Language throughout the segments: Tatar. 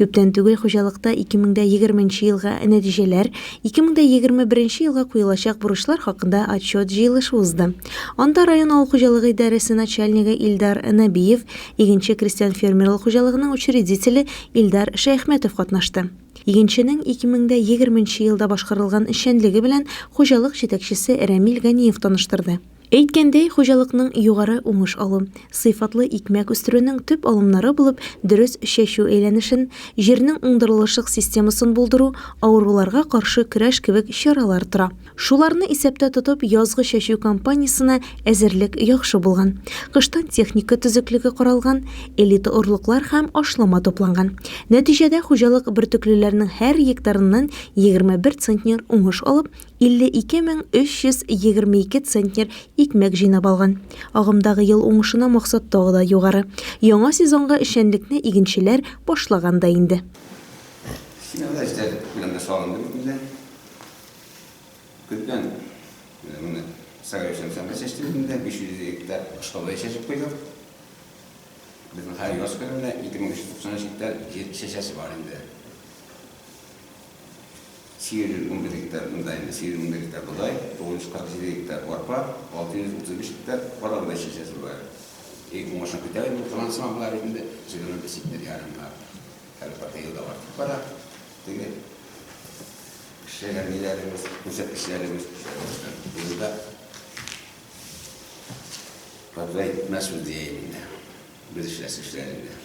Күптән түгел хуҗалыкта 2020 нче елга нәтиҗәләр, 2021 нче елга куелачак бурычлар хакында отчет җыелышы узды. Анда район авыл хуҗалыгы идарәсе начальнигы Илдар Нәбиев, Игенче крестьян-фермерлык хуҗалыгының учредителе Илдар Шәяхмәтов катнашты. Игенченең 2020 нче елда башкарылган эшчәнлеге белән хуҗалык җитәкчесе Рәмил Ганиев таныштырды. Әйткәндәй, хуҗалыкның югары уңыш алу, сыйфатлы икмәк үстерүнең төп алымнары булып дөрес чәчү әйләнешен, җирнең уңдырылышлык системасын булдыру, авыруларга каршы көрәш кебек чаралар тора. Шуларны исәптә тотып, язгы чәчү кампаниясенә әзерлек яхшы булган. Кыштан техника төзеклеге каралган, элита орлыклар һәм ашлама тупланган. Нәтиҗәдә хуҗалык бөртеклеләрнең һәр гектарыннан 21 центнер уңыш алып, 52 мең 322 центнер икмәк җыйнап алган. Агымдагы ел уңышына максат тагы да югары. Яңа сезонга эшчәнлекне игенчеләр башлаган да инде. 810 гектар бодай, 810 гектар бодай, 947 гектар арпа, 635 гектар кара бодай чәчәсе бар. Ик уңышын көтәбез бу финанслама болар инде 25 сентнер ярымга. Һәр каты елда артып бара. Теге эшләгәннәребез, күрсәткечләребез елда. Подрай мәсул дияйме? Без эшләс эшләрендә.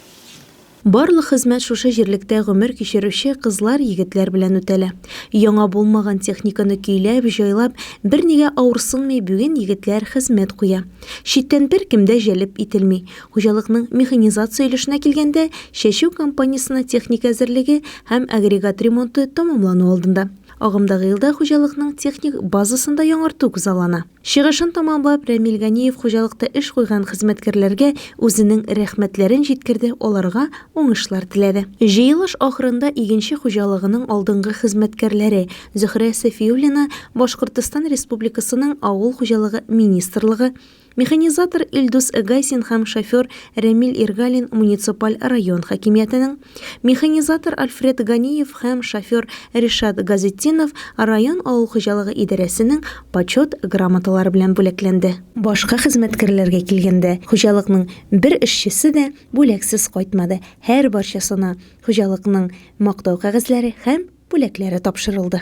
Барлык хезмәт шушы җирлектә гомер кичерүче кызлар, егетләр белән үтәлә. Яңа булмаган техниканы көйләп, җайлап, бернигә авырсынмый бүген егетләр хезмәт куя. Читтән беркем дә җәлеп ителми. Хуҗалыкның механизация өлешенә килгәндә, чәчү кампаниясенә техника әзерлеге һәм агрегат ремонты тәмамлану алдында. Агымдагы елда хуҗалыкның техник базасын да яңарту күзаллана. Чыгышын тәмамлап, Рәмил Ганиев хуҗалыкта эш куйган хезмәткәрләргә үзенең рәхмәтләрен җиткерде, аларга уңышлар теләде. Җыелыш ахырында игенче хуҗалыгының алдынгы хезмәткәрләре Зөһрә Сафиуллина, Башкортстан Республикасының Авыл хуҗалыгы министрлыгы, механизатор Илдус Гайсин һәм шофер Рәмил Иргалин муниципаль район хакимиятенең, Механизатор Альфред Ганиев һәм шофер Ришат Газетдинов район авыл хуҗалыгы идарәсенең Почет грамоталары белән бүләкләнде. Башка хезмәткәрләргә килгәндә, хуҗалыкның бер эшчесе дә бүләксез кайтмады, һәрбарчасына хуҗалыкның Мактау кәгазьләре һәм бүләкләре тапшырылды.